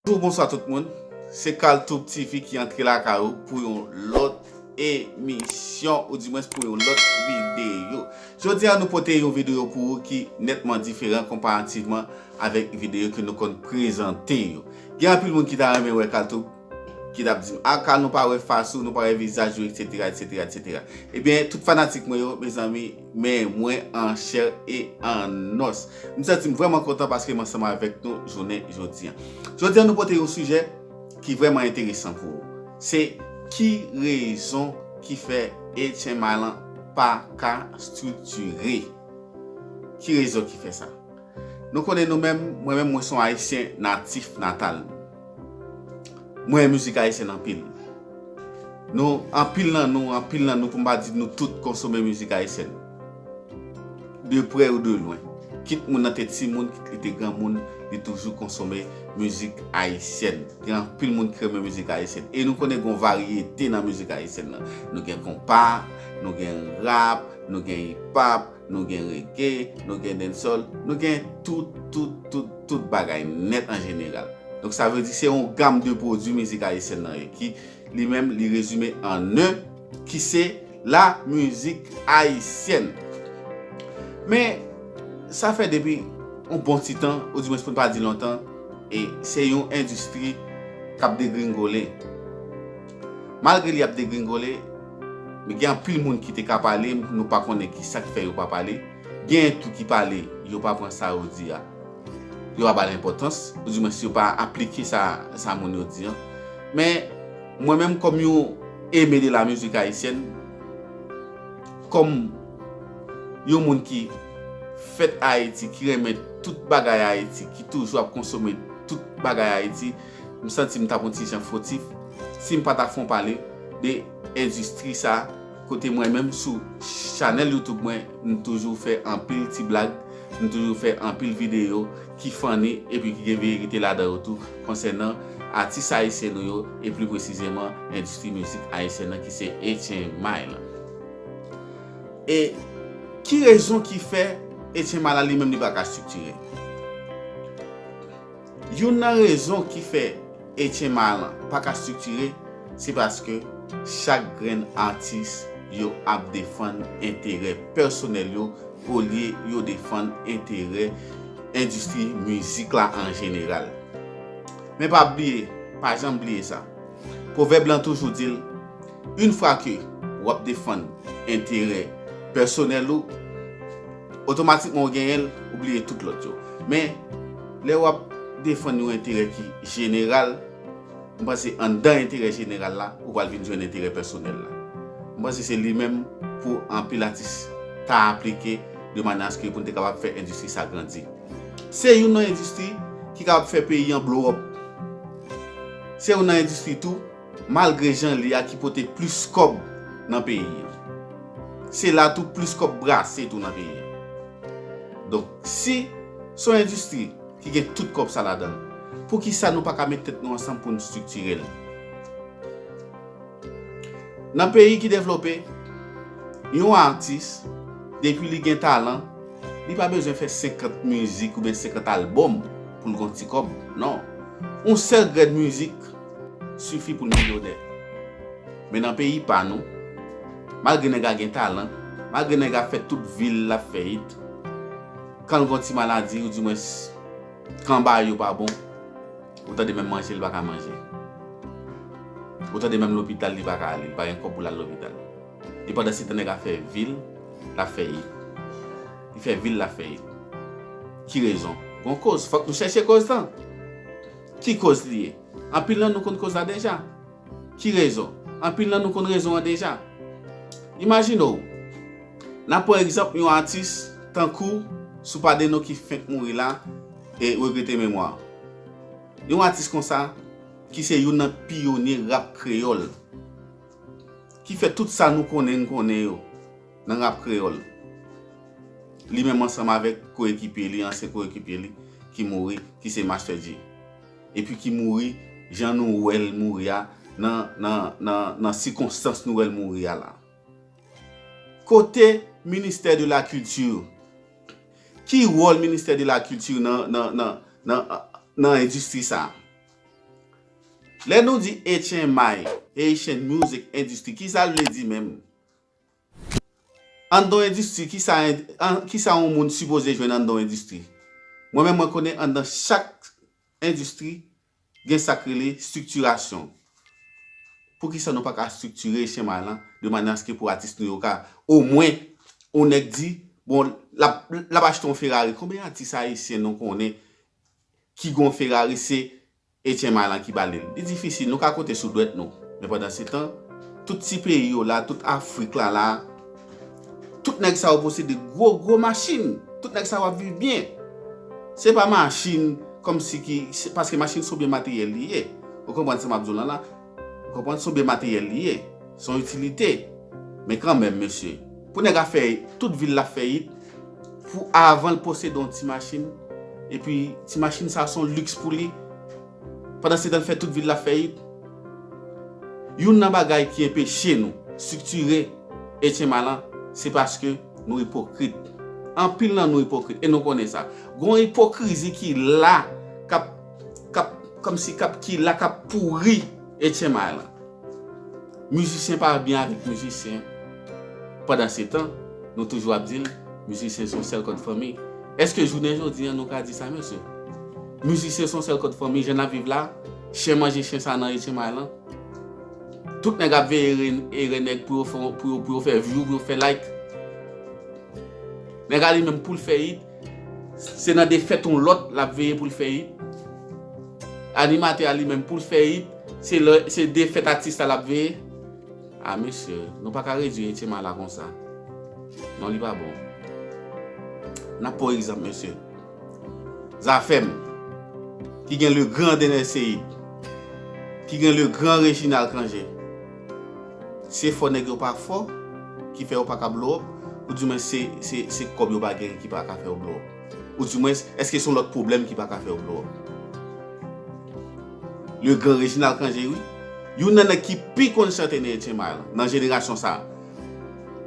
Bonjour bonsoir tout moun se kaltoub TV ki antre lakay ou pou yon lòt emisyon ou di mwen pou yon lòt videyo jodi a nou pote yon videyo pou ou ki netman diferan konparativman avèk videyo ke nou konn prezante yo gen anpil moun ki ta renmen wè kaltoub Ki tap dim ah ka nou pa wè fas ou nou pa wè vizaj ou etc etc etc ebyen tout fanatik mwen yo mezanmi men mwen an chè e an os m santim vrèman kontan paske m ansanm avèk nou jounen jodi an jodi an nou pote yon sijè ki vrèman enteresan pou ou se ki rezon ki fè HMI lan pa ka striktire ki rezon ki fè sa nou konnen nou menm mwen menm mwen son ayisyen natif natal Mwen renmen mizik ayisyen anpil. Nou anpil nan nou, anpil nan nou pou mpa di nou tout konsome mizik ayisyen. De prè ou de lwen. Kit moun nan te ti moun, kit li te gran moun, li toujou konsome mizik ayisyen. Gen anpil moun ki renmen mizik ayisyen. E nou konnen gon varyete nan mizik ayisyen nan. Nou gen konpa, nou gen rap, nou gen ipap. nou gen rege, nou gen dancehall, nou gen tout, tout, tout, tout bagay nèt an jeneral. Donk sa vle di se yon gam de pwodui mizik ayisyèn nan ye ki li menm li rezime an 1 ki se la mizik ayisyèn. Men sa fè depi yon bon ti tan ou di mwens pou n pa di lontan e se yon endistri k ap degringole. Malgre li ap degringole, men gen anpil moun ki te ka pale, nou pa konnen ki sa ki fè yo pa pale. Genyen tou ki pale, yo pa pran sa yo di a, yo pa ba l enpòtans, ou di mwens yo pa aplike sa sa moun yo di an. Men, mwen menm kòm yon aimé de la musique haïtienne, kòm yon moun ki fèt Ayiti, ki renmen tout bagay Ayiti, ki toujou ap konsome tout bagay Ayiti, M santi m t ap on ti jan fotif si m pa ta fon pale de endistri sa kote mwen menm sou chanèl youtube mwen m toujou fè anpil ti blag m toujou fè anpil videyo ki funny epi ki gen verite ladan yo tou konsènan atis ayisyen nou yo e pli presizeman endistri mizik ayisyen nan ki se Etchenmay lan e ki rezon ki fè Etchenmay la li menm li pa ka striktire. Youn nan rezon ki fè Etyen Malan pa ka striktire se paske chak grenn atis yo ap defann enterè pèsonèl yo olye yo defann enterè endistri mizik la an jeneral. Men pa bliye, pa janm bliye sa, pwovèb lan toujou di l, Une fwa ke w ap defann enterè pèsonèl ou, Otomatikman ou genyen l, ou bliye tout lòt yo. Men, lè w ap defann yon enterè ki jeneral, m panse anndan enterè jeneral la, ou pral vin jwenn enterè pèsonèl la. M panse se li menm pou anpil atis ta aplike de manyè aske pou n te kapab fè endistri sa grandi. Se youn nan endistri ki kapab fè peyi an blow up. Se youn nan endistri tou Malgre jan li a ki pote plis kòb nan peyi an. Se la tou plis kòb brase tou nan peyi an. Donk si se yon endistri ki gen tout kòb sa ladan l, poukisa nou pa ka met tèt nou ansanm pou n striktire l? Nan peyi ki devlope, yon atis depi li gen talan, li pa bezwen fè 50 mizik oubyen 50 albòm pou l gen yon ti kòb. Non. Yon sèl grèn mizik. Sifi pou n milyonè. Men nan peyi pa nou, malgre nèg la gen talan, malgre nèg la fè tout vi l l ap fè it, kan l gen yon ti maladi ou dimwens kan bagay yo pa bon, ou tande menm manje l pa ka manje. Ou tande menm lopital li pa ka ale, li pa gen kòb pou l al lopital. E pandansetan nèg la fè vi l l ap fè it. Li fè vi l l ap fè it. Ki rezon? Gon koz. Fòk nou chèche koz lan. Ki koz li ye? Anpil nan nou konn koz la deja. Ki rezon? Anpil nan nou konn rezon an deja. Imajine w, n ap pran egzanp yon atis tankou Soupa Deno ki fenk mouri la e regrete memwa l. Yon atis konsa ki se youn nan piyonye rap kreyòl, ki fè tout sa nou konnen n konnen yo. Nan rap kreyòl, li menm ansanm avèk koyekipye li, ansyen koyekipye li, ki mouri, ki se Master Dji. Epi ki mouri jan nou wè l mouri a, nan sikonstans nou wè l mouri a la. Kote ministè de la kilti? Ki wòl ministè de la kilti nan endistri sa? Lè nou di HMI, Haitian Music Industry, ki sa l vle di menm? Anndan yon endistri, ki sa yon moun sipoze jwenn anndan yon endistri? Mwen menm mwen konnen anndan chak endistri gen sa k rele estriktirasyon. Pou ki sa nou pa ka estriktire chema lan de manè a se ke pou atis nou yo ka omwen yon nèg di bon l ap achte yon Ferrari. Konbyen atis ayisyen nou konnen ki gen yon Ferrari se Etienne Malan ki ba li l. Li difisil, nou ka konte sou dwèt nou. Men pandansetan, tout ti peyi yo la, tout Afrik la la, tout nèg sa yo posede gwo gwo machin. Tout nèg sa yo ap viv byen. Se pa machin kòmsi ki, paske machin se yon byen materyèl li ye. Ou konprann sa m ap di w lan la? M konprann son byen materyèl li ye, son itilite, men kanmenm mesye, pou nèg a fè tout vil la fèyit, pou avan l posede yon ti machin, epi ti machin sa son liks pou li, pandansetan l fè tout vil la fèyit. Youn nan bagay ki enpeche nou striktire HMA lan, se paske nou ipokrit. Anpil nan nou ipokrit e nou konnen sa. Gon ipokrizi ki la kap. kap kòmsi kap ki la kap pouri etchenmay lan mizisyen pa byen avèk mizisyen pandansetan nou toujou ap dil mizisyen son sèl kòd fanmi èske jounen jodi an nou ka di sa mesye mizisyen son sèl kòd fanmi jan nap viv la chen manje chen sa nan etchenmay lan tout nèg ap veye ere nèg pou yo fè pou yo fè vyou pou yo fè like nèg ale menm poul fè it. Se nan defèt yon lòt l ap veye pou l fè it. Animatè a li menm pou l fè it, se defèt atis la l ap veye. A mesye, nou pa ka redui Etcema a la konsa. Non li pa bon. N ap pran egzanp mesye. Zafèm, ki gen le gran Dener Ceïde, ki gen le gran Reginald Cangé. Se fò nèg yo pa fò ki fè yo pa ka blow up ou di mwens se kòb yo pa gen ki pa ka fè yo blow up? Ou di mwens èske son lòt pwoblèm ki pa ka fè yo blow up? Le grand Reginald Cangé wi. Youn nan nèg ki pi konn chante nan Etyen May lan, nan jenerasyon sa.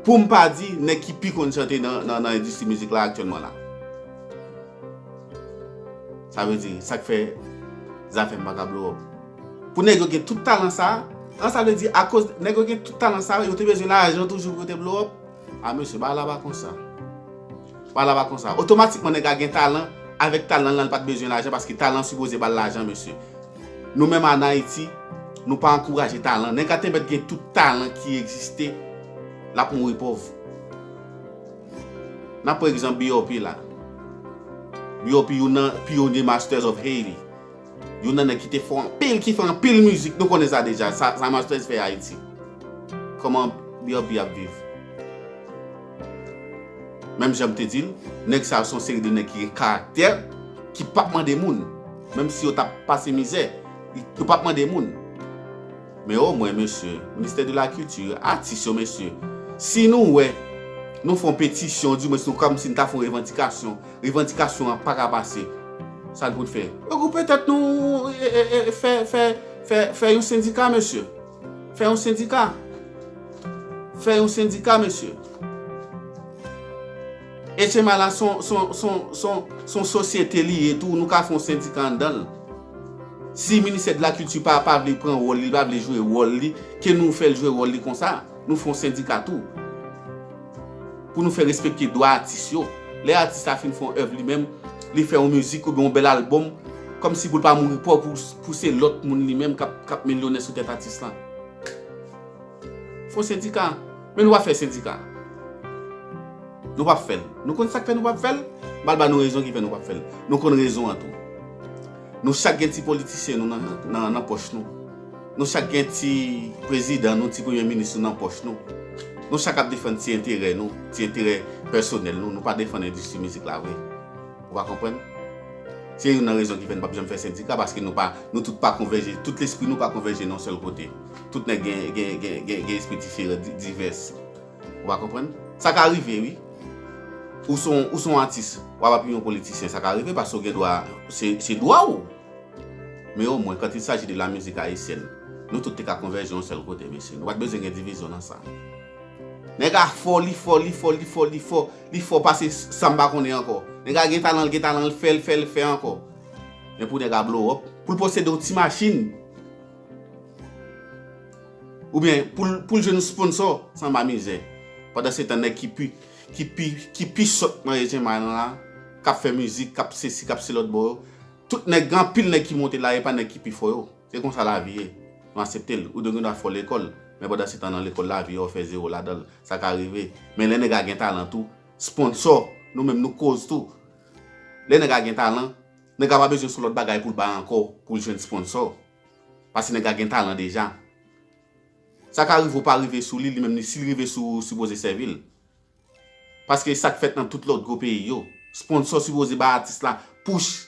Pou m pa di nèg ki pi konn chante nan endistri mizik la aktyèlman la. Sa vle di sa k fè zafè m pa ka blow up? Pou nèg yo gen tout talan sa a, an sa vle di akoz nèg yo gen tout talan sa a, yo te bezwen lajan toujou pou yo te blow up? A mesye, bagay la pa konsa. Bagay la pa konsa. Otomatikman nèg la gen talan, avèk talan l lan l pa t bezwen lajan paske talan sipoze ba l lajan mesye. Nou menm an Ayiti, nou pa ankouraje talan. Nèg la te mèt gen tout talan ki egziste, l ap mouri pòv. N ap pran egzanp BOP la. BOP youn nan pyonye Masters of Haiti. Yon nan nèg ki te fò anpil ki fè anpil mizik nou konnen sa deja sa Martez fè Ayiti kòman BRB ap viv menm jan m te di l nèg sa yo se yon seri de nèg ki gen karaktè ki pap mande moun menm si yo t ap pase mizè yo pap mande moun men omwen mesye ministè de la kilti atis yo mesye si nou wè nou fè yon petisyon di mwen si nou kòmsi nou ta fè yon revandikasyon Revandikasyon an pa ka pase. Sa n pou n fè? Regwoupe tèt nou e fè, fè, fè, fè yon sendika mesye. Fè yon sendika. Fè yon sendika mesye. HMA la son, son, son, son, son sosyete li ye tou. Nou ka fè yon sendika anndan l. Si Ministè de la Culture pa, pa vle pran wòl li, li pa vle jwe wòl li, ke nou fè l jwe wòl li konsa. Nou fè yon sendika tou. Pou nou fè respekte dwa atis yo. Lè atis la fin fè yon èv li menm, li fè yon mizik oubyen yon bèl albòm, kòmsi pou l pa mouri pòv pou se lòt moun li menm k ap milyonè sou tèt atis lan. Fon sendika. Men nou pa fè sendika. Nou pa p fè l. Nou konn sa k fè nou pa p fè l? M pral ba nou rezon ki fè nou pa p fè l. Nou konn rezon an tou. Nou chak gen ti politisyen nou nan pòch nou. Nou chak gen ti prezidan nou, ti premye minis nou nan pòch nou. Nou chak ap defann ti enterè nou, ti enterè pèsonèl nou, nou pa defann endistri mizik la vre. Ou va konprann? Se youn nan rezon ki fè nou pap janm fè sendika paske nou pa, nou tout pa konvèje, tout lespri nou pa konvèje nan yon sèl kote. Tout nèg gen, gen, gen, gen, gen espri diferan, di, divès. Ou va konprann? Sa ka rive wi. Ou se yon, ou se yon atis, wap apiye yon politisyen, sa ka rive paske ou gen dwa, se, se dwa ou. Men omwen, quand il s'agit de la musique haïtienne, nou tout te ka konvèje yon sèl kote, mesye. Nou pa t bezwen gen divizyon nan sa. Nèg a fò, li fò, li fò, li fò, li fò, li fò pase sa m pa konnen ankò. Nèg a gen talan, l gen talan, l fè, l fè, l fè ankò. Men pou nèg a blow up, pou l posede yon ti machin, oubyen pou l jwenn yon sponsò, sanba mizè. Pandansetan nèg ki pi, ki pi, ki pi sòt nan Echenmay lan la, k ap fè mizik, k ap sesi, k ap selòtbò yo, Tout nèg gen anpil nèg ki monte la epa nèg ki pi fò yo se konsa lavi ye nou asepte l ou te gendwa fò lekòl men pandan setan nan lekòl la vi a ou fè zero ladan l sa ka rive men lè nèg a gen talan tou sponsò nou menm nou koz tou lè nèg a gen talan nèg a pa bezwen son lòt bagay pou l bay ankò pou l jwenn sponsò paske nèg a gen talan deja sa ka rive ou pa rive sou li li menm si li rive sou ou sipoze sèvi l. Paske e sak fèt nan tout lòt gwo peyi yo. Sponsor sipoze bay atis la push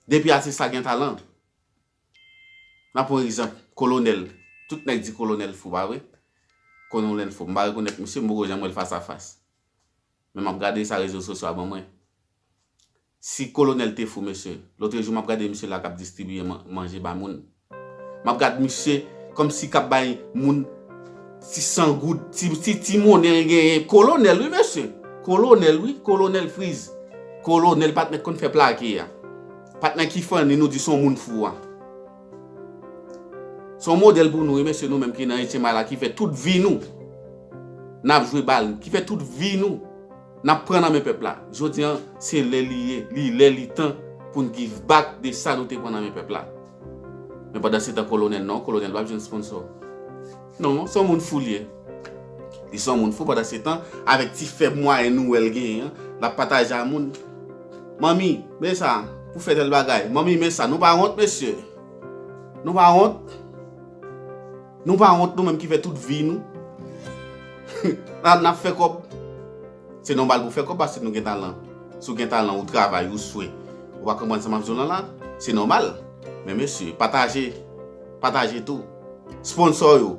depi atis la gen talan. Nan pran egzanp Kolonèl, tout nèg di Kolonèl fou pa vre? Kononèl fou. M pa rekonèt misye, m poko janm wè l fas a fas. Men m ap gade sa rezo sosyo a ban mwen. Si kolonel te fou mesye. Lotrejou map gade misye la kap distribiye manje ba moun. Map gad misye komsi kap bay moun ti san goud, ti ti monnen l genyen. Kolonel wi mesye. Kolonel wi, kolonel friz. Kolonel pat met konn fè plake a. Pat nan ki fanni nou di son moun fou a. Son model pou nou wi mesye nou menm ki nan etyen may la ki fè tout vi nou nap jwe bal, ki fè tout vi nou. Nap pran nan men pèp la. Jodi an se lè li ye, li lè li tan pou n give back de sa nou te pran nan men pèp la. Men pandan se tan kolonèl non, kolonèl pap jwenn sponsò. Non, se yon moun fou li ye. Li se yon moun fou pandan se tan avèk ti fèb mwayen nou wè l genyen an, lap pataje a moun. Manmi, men sa pou fè tèl bagay. Manmi men sa. Nou pa wont mesye? Nou pa wont? Nou pa wont nou menm ki fè tout vi nou Nan nap fè kòb Se nòmal pou fè kòb paske nou gen talan Si w gen talan ou travay ou swe Ou pa konprann sa map di w lan la Se nòmal Men mesye pataje Pataje tou Sponsò yo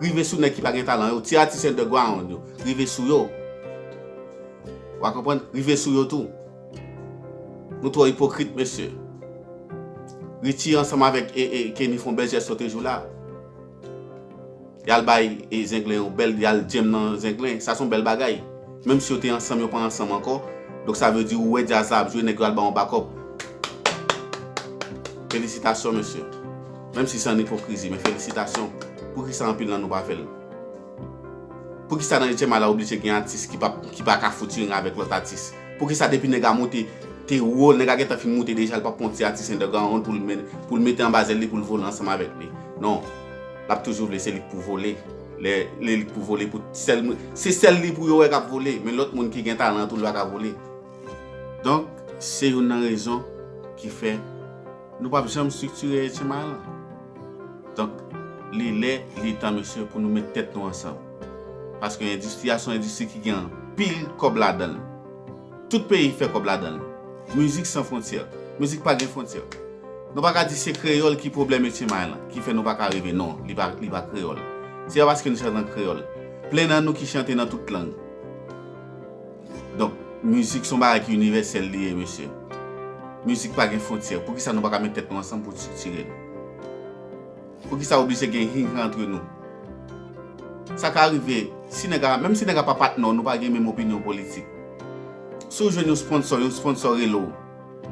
Rive sou nèg ki pa gen talan yo Ti atis underground yo Rive sou yo Wa konprann Rive sou yo tou. Nou twò ipokrit mesye. Richie ansanm avèk Kenny fon bèl jès sote jou la. Yal bay zenglen yon bèl yal djenm nan zenglen. Sa son bèl bagay. Menm si yo te ansanm yo pa ansanm ankò. Donk sa vle di ou wè jazz la ap jwe nèg yo al ba yon bakòp. Felisitasyon mesye. Menm si san ipokrizi men felisitasyon. Poukisa anpil nan nou pa fèl. Poukisa nan etyèm a la oblije gen atis ki pa ka fouturing avèk lòt atis? Poukisa depi nèg a moute te wo, nèg a gentan fin moute deja li pap pran yon ti atis underground pou l mete anba zèl li pou l vole ansanm avèk li? Non, l ap toujou vle se li k pou vole. Lè li k pou vole pou sèl moun, se sèl li pou yo wè k ap vole men lòt moun ki gen talan an tou li pa ka vole. Donk, se youn nan rezon ki fè nou pap janm striktire etyèm a la. Donk, li lè, li tan mesye pou nou met tèt nou ansanm. Paske endistri a se yon endistri ki gen anpil kòb ladan l. Tout peyi fè kòb ladan l. Mizik san fwontyè. Mizik pa gen fwontyè. Nou pa ka di se kreyòl ki pwoblèm Etye May lan, ki fè nou pa ka rive. Non, li pa, li pa kreyòl. Se pa paske nou chante an kreyòl. Plen nan nou ki chante nan tout lang. Donk mizik son bagay ki inivèsèl li ye mesye. Mizik pa gen fontyè. Poukisa nou pa ka met tèt nou ansanm pou striktire l? Poukisa oblije gen hin han antre nou? Sa ka rive, si nèg a, menm si nèg a pa patnè w, nou pa gen menm opinyon politik. Si w jwenn yon sponsò, yon sponsò rele w,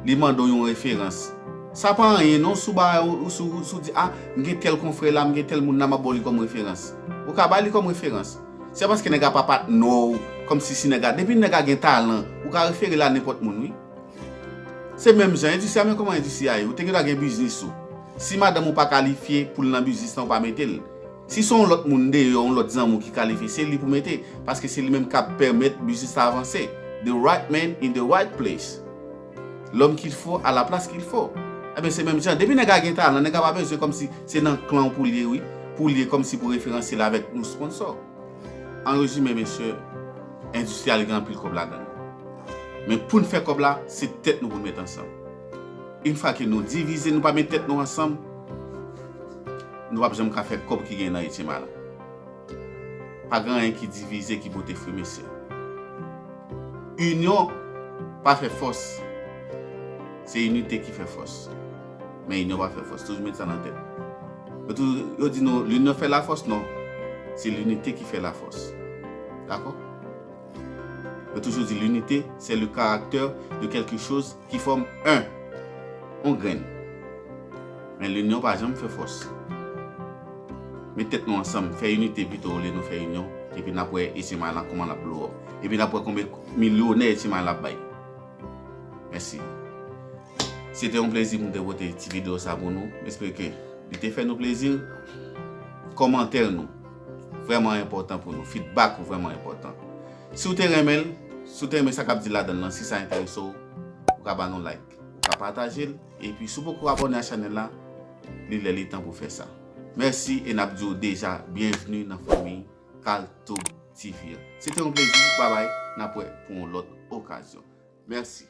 li mande w yon referans. Sa pa anyen non si w ba, si w di a, m gen tèl konfrè la, m gen tèl moun la, m ap ba w li kòm referans. Ou ka ba li kòm referans. Se paske nèg a pa patnè w kòm si si nèg a depi nèg a gen talan ou ka refere l a nenpòt moun wi se menm jan endistri a men kòman endistri a ye ou te gendwa gen biznis ou si madanm ou pa kalifye pou l nan biznis lan ou pa mete l si se yon lòt moun deyò yon lòt zanmi w ki kalifye se li pou mete paske se li menm k ap pèmèt biznis la avanse the right man in the right place. L'homme qu'il faut à la place qu'il faut Ebyen se menm jan, depi nèg la gen talan, nèg la pa bezwen kòmsi se nan klan w pou l ye wi, pou l ye kòmsi pou referanse l avèk yon sponsò. An rezime mesye, endistri a li gen anpil kòb ladan l. Men pou n fè kòb la, se tèt nou pou n met ansanm. Une fwa ke nou divize, nou pa met tèt nou ansanm, nou pap janm ka fè kòb ki gen nan Etyen Mala. Pa gen anyen ki divize ki pote fri mesye. Inyon pa fè fòs. Se inite ki fè fòs. Men inyon pa fè fòs. Toujou met sa nan tèt. Yo toujou di nou linyon fè la fòs non. Se linite ki fè la fòs. Dakò? Yo toujou di linite se le karaktè de kelke choz ki fòm 1. Yon grenn. Men linyon pa janm fè fòs. Met tèt nou ansanm, fè inite pito olye nou fè inyon, epi nap wè Etimay lan kouman lap blow up. Epi nap wè konbyen milyonè Etimay lan ap bay. Mèsi. Se te yon plezi pou m te pote ti video sa pou nou. M espere ke li te fè nou plezi. Kòmantè nou vrèman enpòtan pou nou. Feedback ou vrèman enpòtan. Si ou te renmen l, si ou te renmen sa kap di ladan l lan, si sa enterese w, ou ka ba nou like. Ou ka pataje l. Epi si w poko abone a chanel la li lè li tan pou fè sa. Mèsi e nap di w deja byenvni nan fanmi Kalthoub TV an. Se te yon plezi, babay, nap wè pou yon lòt okazyon. Mèsi.